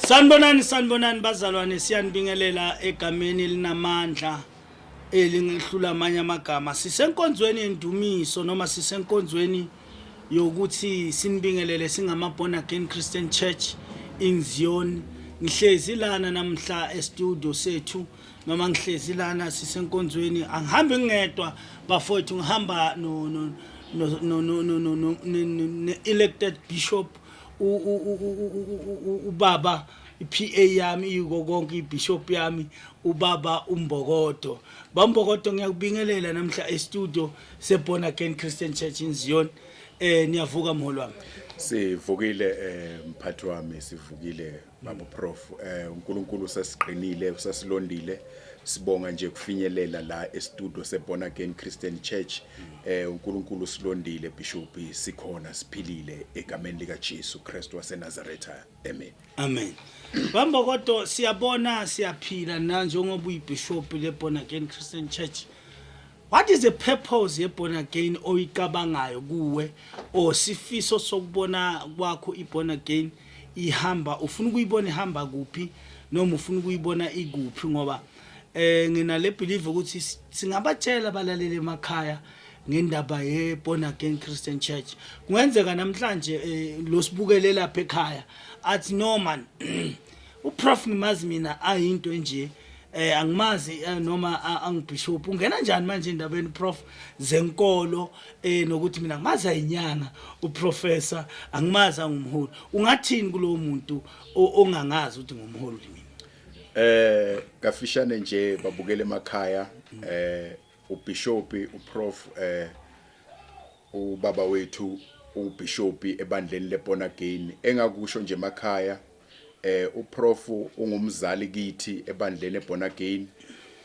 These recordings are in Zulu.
Sanibonani sanibonani bazalwane siyanibingelela egameni elinamandla elingehlula amanye amagama sisenkonzweni yendumiso noma sisenkonzweni yokuthi sinibingelele singama born again Christian Church in Zion ngihlezi lana namhla e-studio sethu noma ngihlezi lana sisenkonzweni angihambi ngedwa bafowethu ngihamba no no no no no no no elected bishop ubaba iPA yami iko konke ibishop yami ubaba umbokodo bambokodo ngiyakubingelela namhla estudio seborn again Christian Church in Zion eh niyavuka mholo wami sivukile eh mphathi wami sivukile Baba Prof eh uNkulunkulu sesiqinile usesilondile sibonga nje kufinyelela la estudio seBorn Again Christian Church eh uNkulunkulu silondile Bishop sikhona siphilile egameni lika Jesu Christ waseNazareth amen amen Bamba kodwa siyabona siyaphila na njengoba uyibishop leBorn Again Christian Church What is the purpose ye born again oyicabangayo kuwe or sifiso sokubona kwakho i born again ihamba ufuna ukuyibona ihamba kuphi noma ufuna ukuyibona ikuphi ngoba eh ngina le believe ukuthi singabatshela balalele emakhaya ngendaba ye born again Christian church kungenzeka namhlanje eh, lo sibukelela lapha ekhaya athi no man uprof ngimazi mina ayinto enje eh angimazi eh, noma angibishop ungena njani manje endabeni prof zenkolo eh nokuthi mina ngimazi ayinyanga uprofessor angimazi angumholi ungathini kulowo muntu ongangazi ukuthi ngumholi mina eh kafishane nje babukele emakhaya eh Ubhishopi uProf eh ubaba wethu ubhishopi ebandleni leBorn Again engakusho nje emakhaya eh uProf ungumzali kithi ebandleni eBorn Again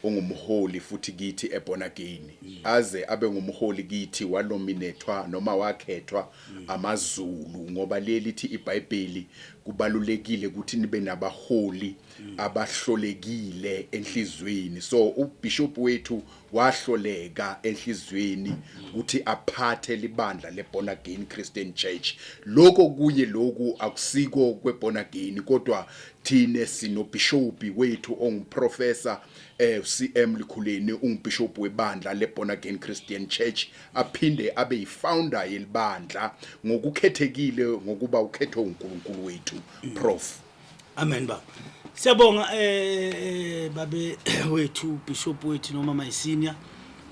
ungumholi futhi kithi eBorn Again aze abe ngumholi kithi walominethwa noma wakhethwa amaZulu ngoba lelithi iBhayibheli kubalulekile ukuthi nibe nabaholi abahlolekile enhlizweni so ubishop wethu wahloleka enhlizweni ukuthi aphathe libandla leborn again christian church lokho kuye lokhu akusiko kweborn again kodwa thine sinobhishopi wethu onguprofessor eh CM Likhuleni ungubishop webandla leborn again christian church aphinde abe yifounder yelibandla ngokukhethekile ngokuba ukhethwe uNkulunkulu wethu prof Amen baba. Siyabonga eh, eh babe wethu bishop wethu noma my senior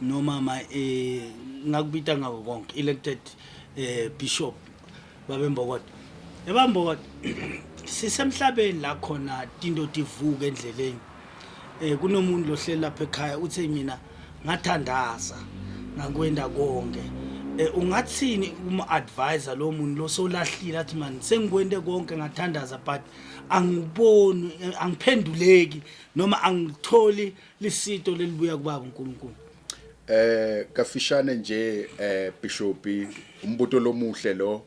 noma my eh ngakubita ngako konke elected eh bishop babe Mbokot. Yabambokot sisemhlabeni la khona tinto tivuka endleleni Eh kunomuntu lohleli lapha ekhaya uthe mina ngathandaza ngakwenda konke. Eh ungathini uma advisor lo muntu lo solahlile athi man sengikwende konke ngathandaza but angiboni eh, angiphenduleki noma angitholi lisito lelibuya kubaba uNkulunkulu. Eh kafishane nje eh Bishop umbuto lomuhle lo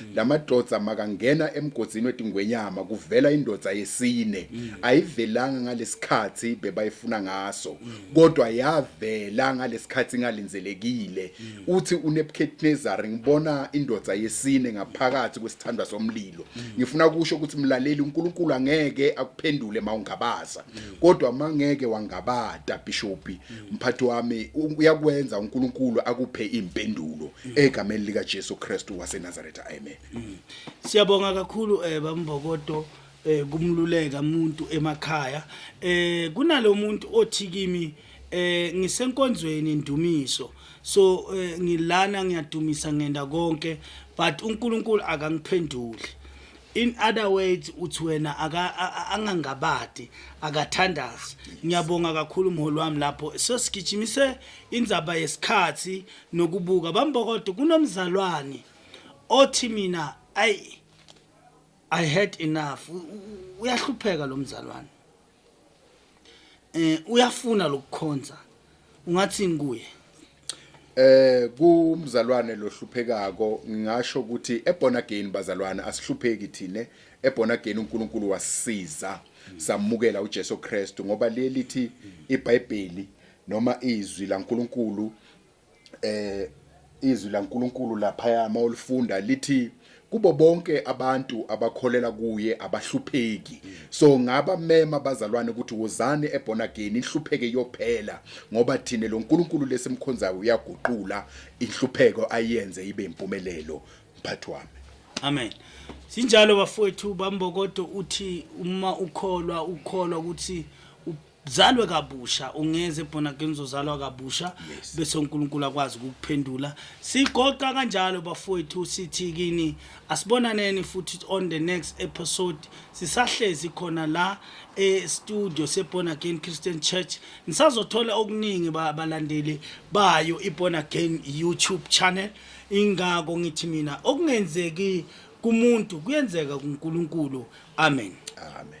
mm. lamadoda makangena emgodzini wetingwenyama kuvela indoda yesine mm. ayivelanga ngalesikhathi bebayifuna ngaso mm. kodwa yavela ngalesikhathi ngalinzelekile uthi uNebuchadnezzar ngibona indoda yesine ngaphakathi kwesithandwa somlilo ngifuna kusho ukuthi mlaleli uNkulunkulu angeke akuphendule mawungabaza kodwa mangeke wangabata bishop mphathi wami uyakwenza uNkulunkulu akuphe impendulo egameni lika Jesu Kristu waseNazareth amen Siyabonga kakhulu eh bambokodo eh kumluleka umuntu emakhaya eh kunalomuntu othi kimi eh ngisenkonzweni indumiso so eh, ngilana ngiyadumisa ngenda konke but uNkulunkulu akangiphenduli in other words uthi wena angangabadi akathandazi ngiyabonga kakhulu umholi wami lapho sesigijimise indzaba yesikhathi nokubuka bambokodo kunomzalwane othi mina ayi i had enough uyahlupheka lo mzalwane eh uyafuna lokukhonza ungathi ngikuye eh kumzalwane lohluphekako ngingasho ukuthi ebona again bazalwane asihlupheki thine ebona again uNkulunkulu wasisiza samukela uJesu Kristu ngoba lelithi iBhayibheli noma izwi laNkulunkulu eh izwi laNkuluNkulu laphaya uma ulifunda lithi kubo bonke abantu abakholela kuye abahlupheki so ngaba mema abazalwane ukuthi wozani ebona again inhlupheke iyophela ngoba thina lo nkulunkulu lesimkhonzayo uyaguqula inhlupheko ayenze ibe impumelelo mphathi wami amen sinjalo bafowethu bambokodo uthi uma ukholwa ukholwa ukuthi zalwe kabusha ungeze born again uzozalwa kabusha Yes. bese uNkulunkulu akwazi ukukuphendula sigoqa kanjalo bafowethu sithi kini asibonaneni futhi on the next episode sisahlezi khona la e studio se born again Christian Church nisazothola okuningi ba- balandeli bayo i born again YouTube channel ingako ngithi mina okungenzeki kumuntu kuyenzeka kuNkulunkulu amen amen